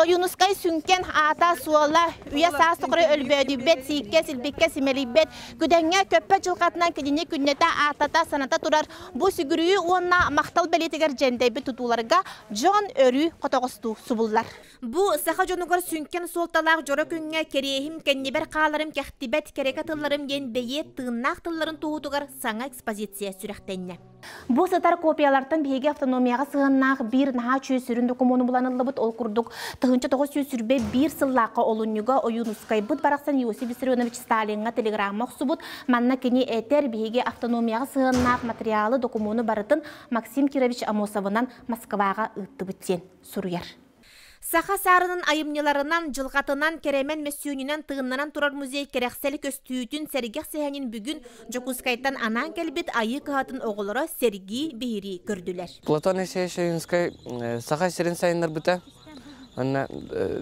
Ойуунускай сүҥкэн аата-суола, үйэ-саас тухары өлбөөдүйбэт, сииккэ-силбиккэ симэлийбэт, күдэҥҥэ көппө дьылҕатынан кинини күннэтэ ааттата-саната турар бу сүгүрүйүү уонна махтал бэлиэтигэр дьэндэйбит тутууларга дьон өрүү хотоҕостуу субуллар. Бу саха дьонугар сүҥкэн суолталаах дьоро күҥҥэ кэриэһим кэннибэр хааларым кэхтибэт кэрэкэ тылларым диэн бэйиэт тыыннаах тылларын туоһутугар саҥа экспозиция сүрэхтэннэ. Бу сытар копиялартан биһиги автономияҕа сыһыннаах биир наһаа үчүгэй сүрүн докумуону буланыллыбыт. Ол курдук, тыһынча тоҕус сүүс сүүрбэ биир сыллаахха олунньуга Ойуунускайбыт барахсан Иосиф Виссарионович Сталиҥҥа телеграмма охсубут. Манна кини этэр, биһиги автономияҕа сыһыннаах материалы, докумуону барытын Максим Кирович Амосовынан Москваҕа ыыттыбыт диэн суруйар. Саха саарынын айымньыларынан, дьылҕатынан, кэрэмэн мөссүөнүнэн тыыннанан турар музей кэрэхсэли көстүүтүн, сэргэх сэһэнин бүгүн Дьокуускайтан анаан кэлбит Айыы кыһатын оҕолоро сэргии, биһирии көрдүлэр. Платоний Сеющевинскай Саха сирин сайыннарбыта. Онно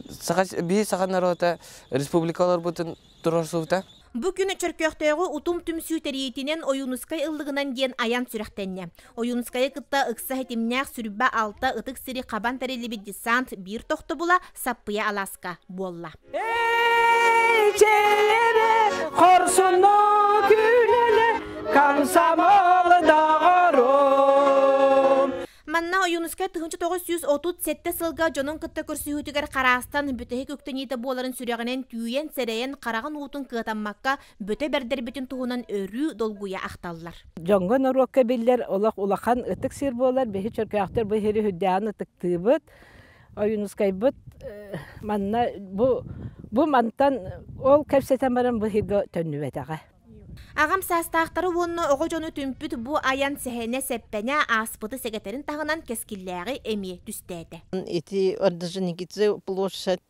саха, биһи саха норуота республика олорбутун турарсыбыта. Бу күн Чөркөөхтөөҕү Утум түмсүү тэрийиитинэн Ойуунускай ыллыгынан диэн айан сүрэхтэннэ. Ойуунускайы кытта ыкса ситимнээх сүрбэ алта ытык сири хабан тэриллибит десант биир тохтобула Саппыйа Алааска буолла. Хорсунно күнэле комсомол доҕорум Манна Ойуунускай тыһыынча тоҕус сүүс отут сэттэ сылга дьонун кытта көрсүһүүтүгэр хараастан бүтэһик үктэниитэ буоларын сүрэҕинэн түүйэн, сэрэйэн, хараҕын уутун кыатаммакка бөтө бэрдэрбитин туһунан өрүү долгуйа ахталлар. Дьоҥҥо норуокка биллэр олох улахан ытык сир буолар. Биһи чөркөөхтөр бу иһири үрдээҕин ытыктыыбыт. Ойуунускайбыт манна бу бу мантан ол кэпсэтэн баран бу иһиргэ төннүбэтэҕэ. Аҕам саастаахтары уонна оҕо дьону түмпүт бу айан сэһэнэ-сэппэнэ ааспыты сэгэтэрин таһынан кэскиллээҕи эмиэ түстээтэ. Ити Орджоникидзе площадь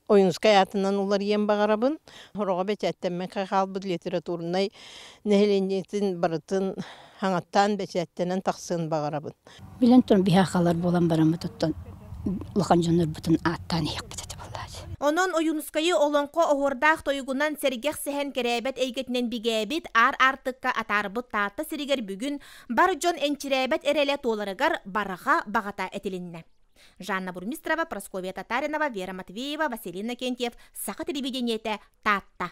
Ойунскай аатынан уларыйан баҕарабын. Ороҕо бэчээттэммэккэ хаалбыт литературнай нэһилиэнньэтин барытын хаҥаттаан бэчээттэнэн тахсыан баҕарабын. Билэн туран биһаахалар буолан бараммытыттан улахан дьоннорбутун ааттаан иһиэхпит этэ буоллааччы. Онон Ойуунускайы олоҥхо оһуордаах тойугунан сэргэх сэһэн кэрээбэт эйгэтинэн бигээбит аар аартыкка атаарбыт Таатта сиригэр бүгүн бар дьон энчирээбэт эрэлэ туоларыгар барҕа баҕата этилиннэ. Жанна Бурмистрова, Прасковья Татаринова, Вера Матвеева, Василина Кентьев, Саха телевидениетэ Таатта.